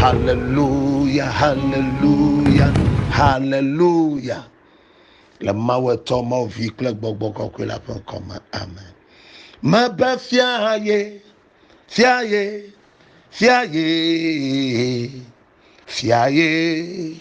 Haleluya, haleluya, haleluya. Le Mawu etɔ mɔ vi kple gbɔgbɔ kɔkɔe la ƒe ŋkɔ me. Amen. Mebe fia ye, fia ye, fia ye, fia ye.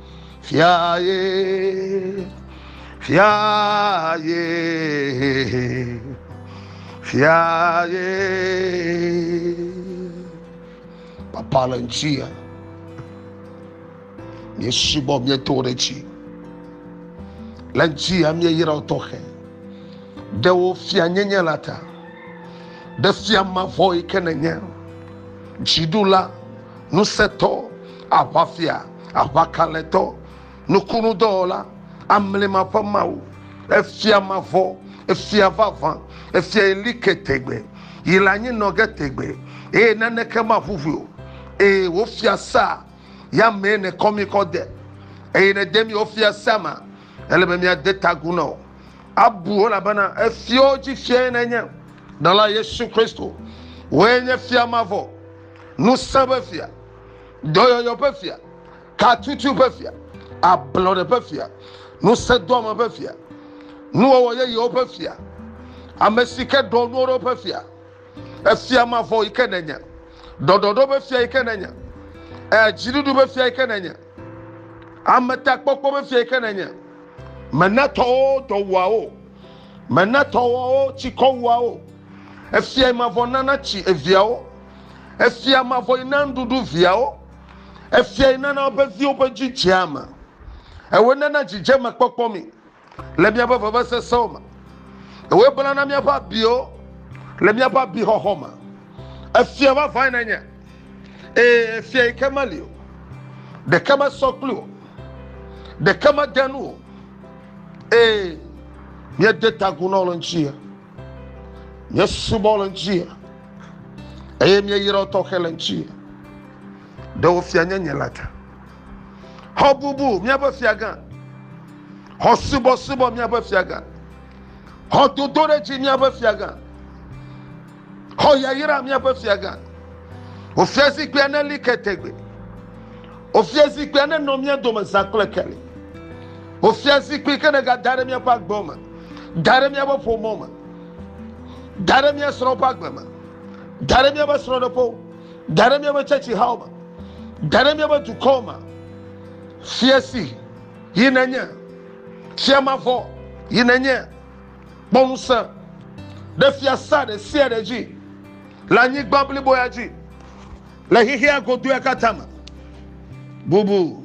fia ye fia ye fia ye papa le ŋuti ya miesubɔ mieto ɖe dzi le ŋuti ya mieyra wo tɔxɛ ɖe wo fia nyenye la ta ɖe fia mavɔ yi ke nenye dziɖula Ŋusẽtɔ, aʋafia, aʋakalẽtɔ, nukunudɔwɔla, amlima ƒe Mawu, efia mavɔ, efia vavã, efia yi li ke tegbe, yi le anyi nɔ ge tegbe, eye naneke maʋuʋui o, eye wò fiasea ya mee nèkɔ mí kɔ de, eye nède mí wò fiasea me, ele be míade ta agu na wò. Abu wò, elabena efiawo dzi Fiae nènye. Ɖela Yesu Kristo, wòe nye fia mavɔ. ŋusẽ ƒe fia, dɔyɔyɔ ƒe fia, katutu ƒe fia, ablɔɖe ƒe fia, ŋusẽdoame ƒe fia, nuwɔwɔ yeyewo ƒe fia, ame si ke ɖɔ nuwo ɖo ƒe fia, efia mavɔ yi ke nènye, ɖɔɖɔɖo ƒe fia yi ke nènye, dziɖuɖu ƒe fia yi ke nènye, ametakpɔkpɔ ƒe fia yi ke nènye, mèna tɔwo dɔwuawo. Mena tɔwɔwo tsi kɔ wuawo. Efiae mavɔ nana tsi eviawo. Efia mavɔe na nuɖuɖu viawo. Efiae nana woƒe viwo ƒe dzi dzea eme. Ewoe nana dzidzemekpɔkpɔ mi le míaƒe vevesesewo me. Ewoe blana míaƒe abiwo le míaƒe abixɔxɔ me. Efia vavãe nènye, ɛ̃, efia yi ke meli o. Ɖeke mesɔ kpli wò, ɖeke mede nu o. Ee, míede ta agu na wò le ŋuti ya. Míesubɔ wò le ŋuti ya. Eye míeyra wò tɔxɛ le ŋuti ya. Ɖe wò fia nye nye la ta. Xɔ bubu míaƒe fia gã. Xɔ subɔsubɔ míaƒe fia gã. Xɔ dodoɖedzi míaƒe fia gã. Xɔ yayra míaƒe fiagã. Wò fiazikpuia neli ke tegbe. Wò fiazikpuia nenɔ mía dome zã kple keli. Wò fiazikpui ke nègada ɖe míaƒe agbe me, da ɖe míaƒe ƒomɔ me, da ɖe mía srɔ̃ ƒe agbe me, da ɖe míaƒe srɔ̃ɖeƒewo, da ɖe míaƒe tsɛtsihawo me, da ɖe míaƒe dukɔ me. Fia si yi nenye, fia mavɔ yi nenye. Kpɔ ŋusẽ ɖe fiasã ɖe sia ɖe dzi le anyigba blibo ya dzi, le xexea godoea katã me. Bubu,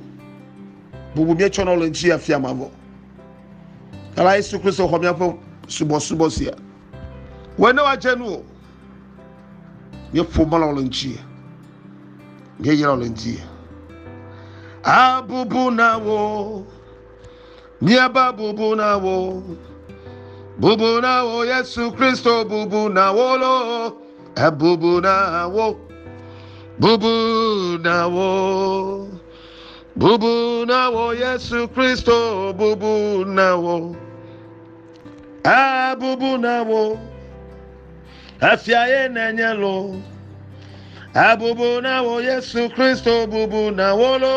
bubu míetsɔ nɔ le ŋuti ya fia mavɔ. Ela Yesu Kristo xɔ míaƒe subɔsubɔ sia. Wɔe ne woadze nu o. Míeƒo mɔlɔ le ŋuti. Míeyra le ŋuti. Abubu na wo. Míaba bubu na wò, bubu na wò Yesu Kristo, bubu na wò lo, ebubu na wò, bubu na wò, bubu na wò Yesu Kristo, bubu na wò, ebubu na wò, efia ye nenye lo, ebubu na wò Yesu Kristo, bubu na wò lo.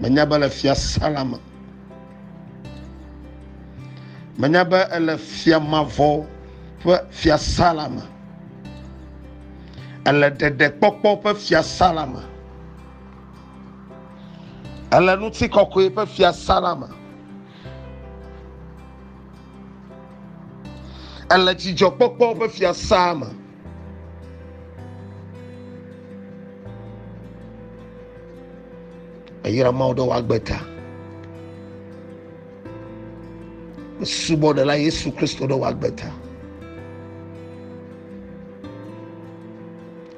Menya be le fiasã la me. Menya be ele fia mavɔ ƒe fiasã la me. Ele ɖeɖekpɔkpɔ ƒe fiasã la me. Ele ŋutikɔkɔe ƒe fiasã la me. Ele dzidzɔkpɔkpɔ ƒe fiasã me. Eyra Mawu ɖe wòagbe ta. Subɔ ɖe la Yesu Kristo ɖe wòagbe ta.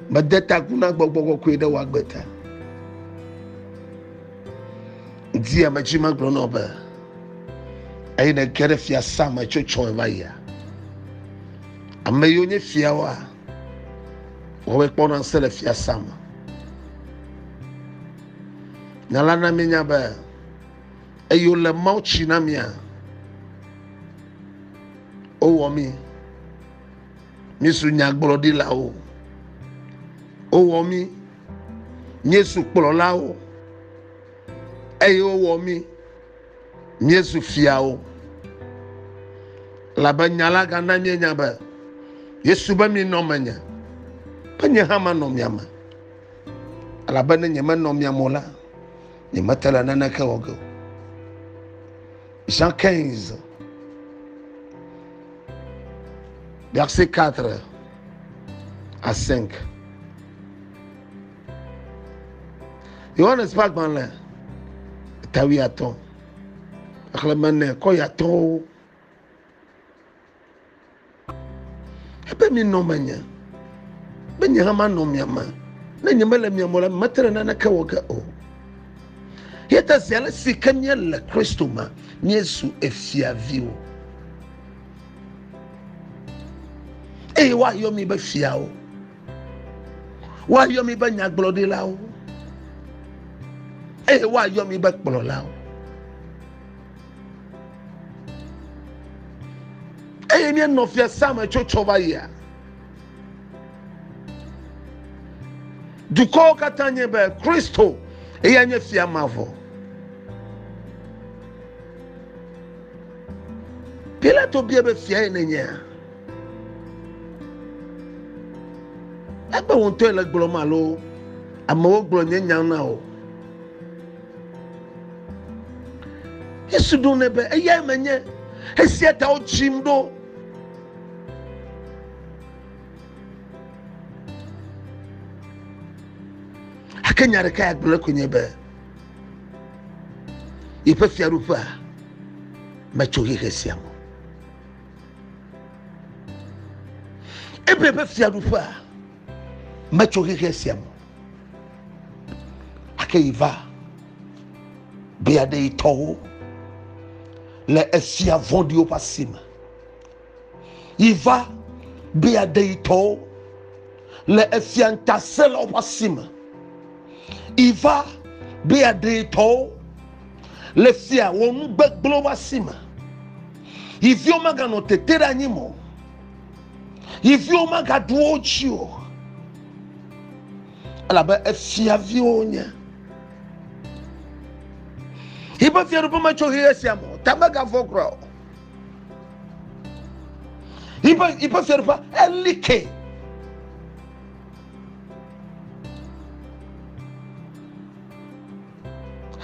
Mede ta gu na gbɔgbɔ kɔkɔe ɖe wòagbe ta. Di ame dzi megblɔ na be eye ne ge ɖe fiasã me tso tsɔe va yia. Ame yiwo nye fiawoa, woawoe kpɔna ŋusẽ le fiasã me. Nya la na míenya be eyi wole Mawu tsi na mía, wowɔ mí, míesu nyagblɔɖilawo, wowɔ mí, míesu kplɔlawo, eye wowɔ mí Míezu fiawo, elabe nya la gana míenya be Yesu be minɔ menye, be nye hã manɔ mia me, elabe ne nyemenɔ mia me o la, nyemete le naneke wɔ ge o. Jean 15, verset 4 à 5. yohanes ƒe agbalẽ tawi atɔ xexlẽme ne kɔ yatɔwo ebe minɔ menye be nye hã manɔ mia me ne nyemele mia me la mete ɖe naneke wɔ ge o ye ta zi ale si ke míele kristo me míezu efiaviwo eye woayɔ mi be fiawo Woayɔ mi be nyagblɔɖilawo eye woayɔ mi be kplɔlawo. Eye ne nɔ fiasea me tso tsɔ va yia, dukɔwo katã nye be Kristo eya nye fia mavɔ. Pilato bia be fia ye nenyea? Ekpe wò ŋutɔe le gblɔm alo amewo gblɔ nye nya na wò? Yesu ɖo nɛ be eyae menye, esia ta wotsim ɖo. Ake nya ɖeka ya gblɔ koe nye be yeƒe fiaɖuƒea metso xexe sia me. Ebre ƒe fiaɖuƒea metso xexe sia me ake yi va be aɖe yi tɔwo le efia vɔɖiwo ƒe asi me yi va be aɖe yi tɔwo le efia ŋutasẽlawo ƒe asi me yi va be aɖe yi tɔwo le fia wɔnugbegblẽwo ƒe asi me. yi viwo maganɔ tete ɖe anyi mɔ yi viwo magaɖu wo dzi o elabe efia viwo nye yiƒe fiaɖuƒe metso ɣeyiɣi sia me o ta megavɔ kura o yiƒe yiƒe fiaɖuƒe eli ke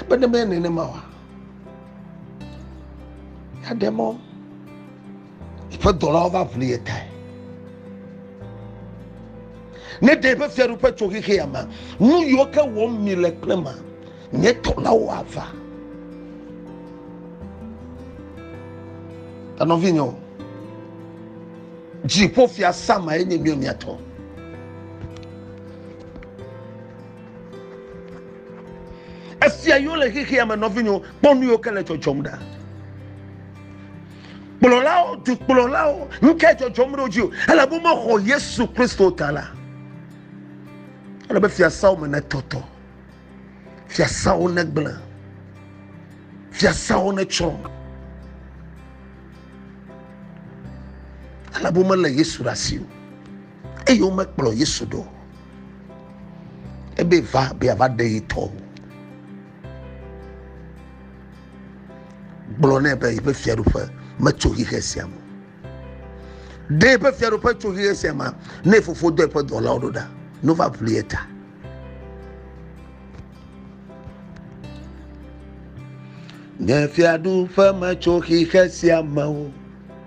Ebe ne menye nenema oa, aɖe mɔ eƒe dɔlawo va ʋli ye tae. Ne ɖe eƒe fiaɖuƒe tso xexea me, nu yiwo ke wɔm mi le kple ma, nye dɔlawo ava. Enɔvinyewo, dziƒo fia sama enye mia mia tɔ. Esia yiwo le xexea me nɔvinyewo kpɔ nu yiwo ke le dzɔdzɔm ɖa. Kplɔlawo, dukplɔlawo, nuke dzɔdzɔm ɖe wo dzi o. Ele be mexɔ Yesu Kristo ta la. Ele be fiasawo me netɔtɔ. Fiasawo negblẽ. Fiasawo netsrɔ̃. Ele be mele Yesu ɖe asi o. eye womekplɔ Yesu ɖo ebe va be yeava ɖe yi tɔ o. Gblɔ nɛ be yeƒe fiaɖuƒe metso xixe sia me. Ɖe yeƒe fiaɖuƒe tso xixe sia me ne fofo dɔ yeƒe dɔlawo ɖo ɖa ne wova ʋli ye ta. Nye fiaɖuƒe metso xixe sia me o.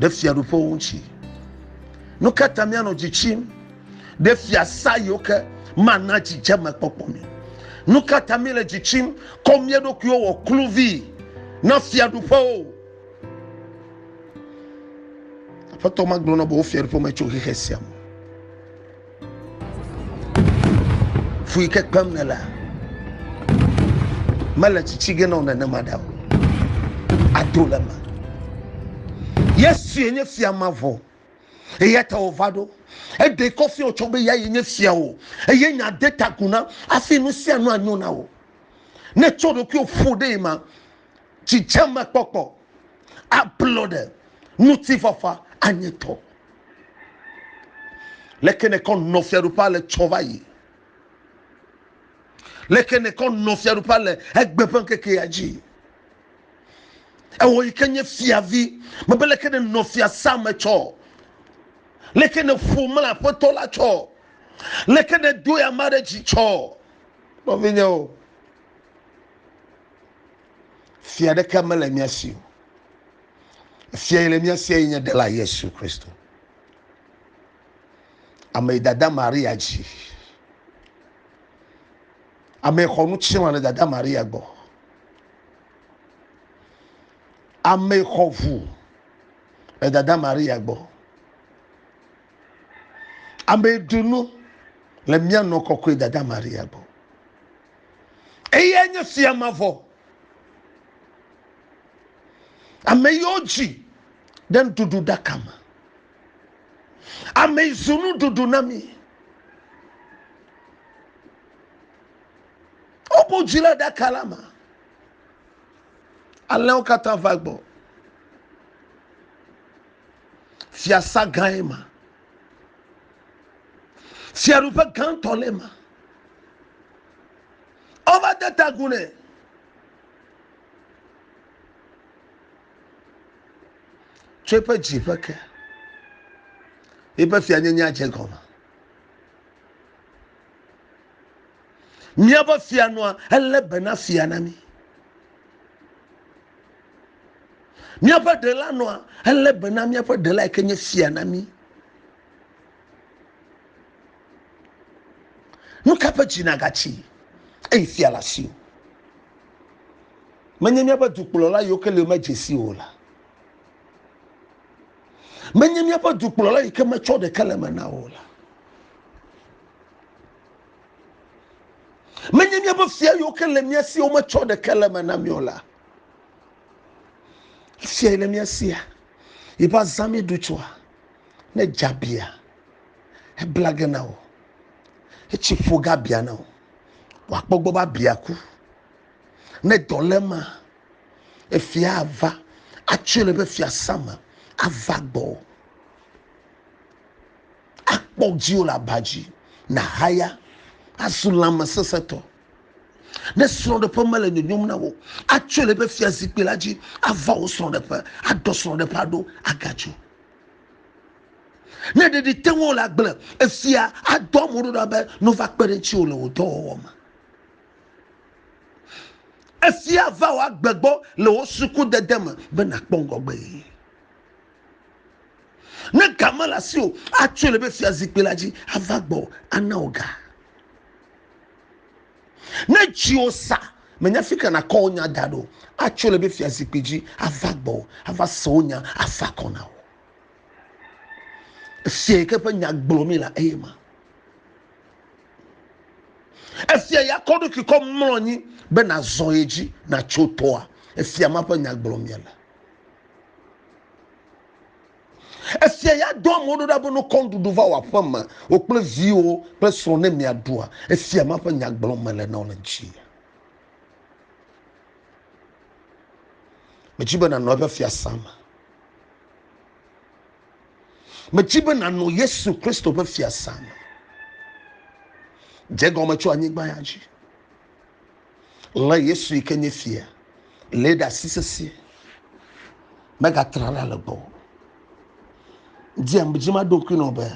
ɖe fiaɖuƒewo ŋuti. Nu ka ta míanɔ dzi tsim ɖe fiasã yiwo ke mana dzidzemekpɔkpɔ mi? Nu ka ta míele dzi tsim kɔ mía ɖokuiwo wɔ kluvi na fiaɖuƒewo? Aƒetɔ magblɔ na be wo fiaɖuƒe me tso xexe sia me. Fu yi ke kpem nèlea, mele tsitsi ge na wò nenema ɖa o. Ado le eme. Yesue nye fia mavɔ. Eya ta wòva ɖo. Eɖe kɔ fia wòtsɔ be ya ye nye fia wò. Eye nya de ta gu na hafi nu sia nu anyo na wò. Ne ètsɔ ɖokuiwò ƒo ɖee ma, dzidzemekpɔkpɔ, ablɔɖe, ŋutifafa anye tɔ. Leke nèkɔ nɔ fiaɖuƒea le tsɔ va yi? Leke nèkɔ nɔ fiaɖuƒea le egbe ƒe ŋkekea dzi? Ewɔ yi ke nye fiavi, mebe leke nènɔ fiasã me tsɔ? Leke nèƒo mla aƒetɔ la tsɔ? Leke nèdoe ame aɖe dzi tsɔ? Nɔvinyewo. fia ɖeke mele mía si o fia yi le mía sia yi nye ɖela yesu kristo ame yi dada maria dzi ame yi xɔ nu tsirɔ le dada maria gbɔ ame yi xɔ ʋu le dada maria gbɔ ame yi ɖu nu le mía nɔ kɔkɔe dada maria gbɔ Eyae nye fia mavɔ. Ame yiwo dzi ɖe nuɖuɖu ɖaka me. Ame yi zu nuɖuɖu na mi. Wobu dzi le ɖaka la me. Alẽwo katã va gbɔ. Fiasã gãe ma. Fiaɖuƒe gãtɔ le ma. Wova de ta agu nɛ. Tso eƒe dziƒe ke. Eƒe fianyenyea dze gɔme. Míaƒe fia nɔa elé be na fia na mí. Míaƒe ɖela nɔa elé be na míaƒe ɖela yi ke nye fia na mí. Nu ka ƒe dzi nàgatsi eyi fia le asiwò? Menye míaƒe dukplɔla yiwo ke le medze si o la. Menye míaƒe dukplɔla yi ke metsɔ ɖeke le me na o la. Menye míaƒe fia yiwo ke le mía si wometsɔ ɖeke le me na mí o la. Fia yi le mía sia, yi ƒe azã míɖu tsɔa, ne dza bia. Ebla ge na wò. Etsi ƒo ga bia na wò. Wòakpɔ gbɔ be abia ku. Ne dɔ le ema, efia ava atsoe le eƒe fiasã me ava gbɔwò. Akpɔ dziwò le aba dzi nàhaya azu lãmesesẽtɔ. Ne srɔ̃ɖeƒe mele nyonyom na wò, atsoe le eƒe fiazikpui la dzi ava wò srɔ̃ɖeƒe, aɖɔ srɔ̃ɖeƒea ɖo agadzo. Ne ɖe ɖi te ŋu wole agble, efia adɔ amewo ɖa be ne wova kpe ɖe ŋutiwò le wò dɔwɔwɔ me. Efia va wò agbe gbɔ le wò sukudede me be nàkpɔ ŋgɔgbe yi. Ne ga mele asiwò o, atsɔe le be fiazikpui la dzi ava gbɔwò ana wò ga. Ne dziwò sa, mènya fi ka nàkɔ wò nya da ɖo. Atso le eƒe fiazikpui dzi ava gbɔwò, ava se wò nya, afa akɔ na wò. Efia yi ke ƒe nya gblɔ mí la eye ma. Efia ya kɔ ɖokui kɔ mlɔ anyi be nàzɔ ye dzi, nàtso toa. Efia ma ƒe nya gblɔ mí le. Esia ya dɔ amewo ɖo ɖa be ne wokɔ nuɖuɖu va wò aƒeme, wò kple viwò kple srɔ̃ ne miaɖua, esia ma ƒe nya gblɔm mele na wò le dzi. Medi be nànɔ eƒe fiasã me. Medi be nànɔ Yesu Kristo ƒe fiasã me. Dze gɔme tso anyigba ya dzi. Lé Yesu yi ke nye fia, lé ɖe asi sesĩe. Megatrana le gbɔ. Dzia dzi ma ɖokui nɔ be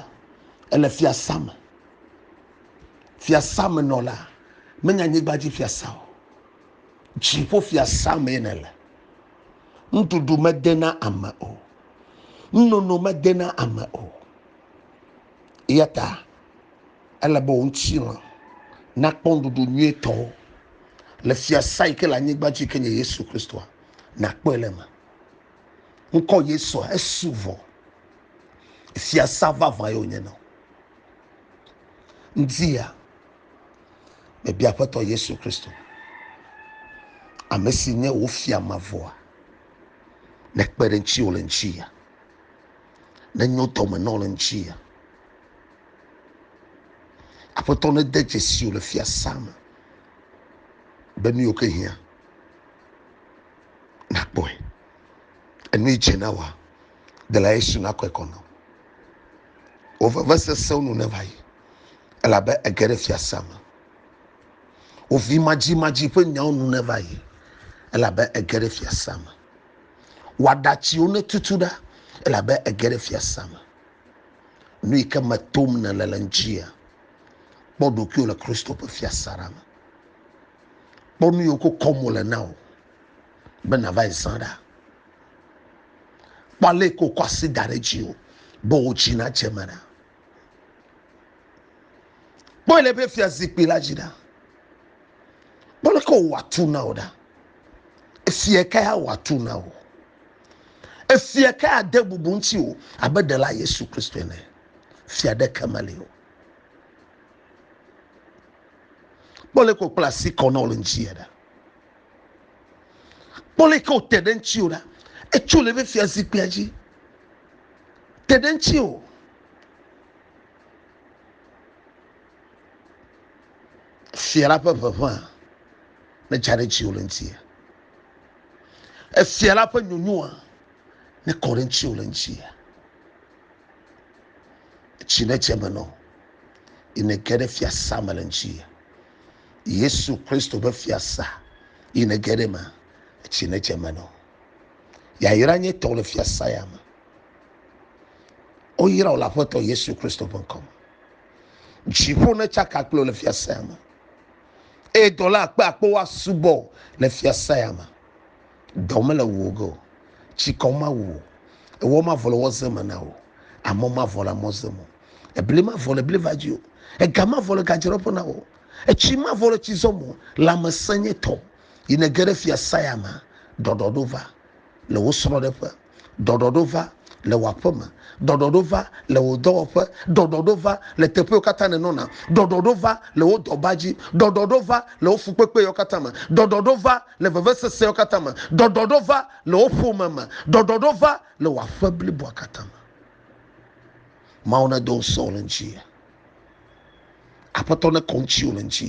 ele fiasa me. Fiasa me nɔ la, menye anyigba dzi fiasa o. Dziƒo fiasa me ne le. Nuɖuɖu mede na ame o. Nunono mede na ame o. Eya ta ele be wò ŋutilã nakpɔ nuɖuɖu nyuitɔ le fiasã yi ke le anyigba dzi ke nye Yesu Kristoa, nàkpɔe le eme. Ŋkɔ Yesua esu vɔ. Fiasã vavã ye wònye na wò. Ŋdia, mebia Aƒetɔ Yesu Kristo, ame si nye wò fia mavɔa, nekpe ɖe ŋutiwò le ŋuti ya. ne nyo tɔme nɔ le ŋuti ya aƒetɔ ne de dzesi o le fiasã me be nu yiwo ke hiã nakpɔe enu yi dze na wa dela yesu nakɔe kɔ nɔ wò veve sesẽwo nu ne va yi elabe ege ɖe fiasã me wò vi madzimadzi ƒe nyawo nu ne va yi elabe ege ɖe fiasã me Wɔɖatsiwo ne tutu ɖa elabe ege ɖe fiasã me. Nu yi ke me tom nèle le ŋutia, kpɔ ɖokuiwò le Kristo ƒe fiasã la me. Kpɔ nu yiwo ko kɔm wòle na wò be nàva yi zã ɖa. Kpɔ ale yi ke wòkɔ asi da ɖe dziwò be wò dzi nadze eme ɖa. kpɔe le eƒe fia zikpui la dzi ɖa kpɔ leke wòwɔ atu na wò ɖa efia kae awɔ atu na wò efia kae ade bubu ŋuti wò abe ɖela yesu kristo ene fia ɖeke meli o kpɔ leke wòkpla asi kɔ na wò le ŋuti ɖa kpɔ leke wòte ɖe ŋuti wò ɖa etso le eƒe fia zikpuia dzi te ɖe ŋuti o. Efia la ƒe ʋeʋẽa netsa ɖe ŋutiwò le ŋuti. Efia la ƒe nyonyoa nekɔ ɖe ŋutiwò le ŋuti. Tsi netse me nɔ yi nege ɖe fiasa me le ŋuti. Yesu Kristo ƒe fiasa yi nege ɖe me tsi netse me nɔ. Yayra nye tɔwò le fiasã ya me. Woyra wò le Aƒetɔ Yesu Kristo ƒe ŋkɔ me. Dziƒo netsaka kple wò le fiasã ya me. Eye dɔla akpe akpewo asubɔ wò le fiasã ya me. Dɔ mele wò ge o. Tsikɔ mawu wò. Ewɔ mavɔ le wɔze me na wò. Amɔ mavɔ le amɔze me o. Ebli mavɔ le bliva dzi o. Ega mavɔ le gadzraɖoƒe na wò o. Etsi mavɔ le tsizɔ me o. Lãmesẽ nye tɔwò. Yi nège ɖe fia saya me, ɖɔɖɔɖo va le wò srɔ̃ɖeƒe, ɖɔɖɔɖo va le wò aƒeme, ɖɔɖɔɖo va le wò dɔwɔƒe, ɖɔɖɔɖo va le teƒewo katã nènɔna, ɖɔɖɔɖo va le wò dɔba dzi, ɖɔɖɔɖo va le wò fukpekpewo katã me, ɖɔɖɔɖo va le vevesesewo katã me, ɖɔɖɔɖo va le wò ƒome me, ɖɔɖɔɖo va le wò aƒe bliboa katã me. Mawu nedo ŋusẽ wò le ŋuti. Aƒetɔ nekɔ ŋutiwò le ŋuti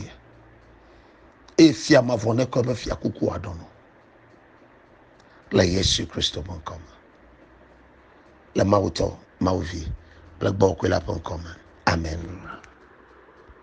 eye fia mavɔ nekɔ eƒe fia kuku aɖɔnɔ le Yesu Kristo ƒe ŋkɔ me le Mawutɔ, Mawuvi kple Gbɔgbɔ Kɔkɔe la ƒe ŋkɔ me. Amen.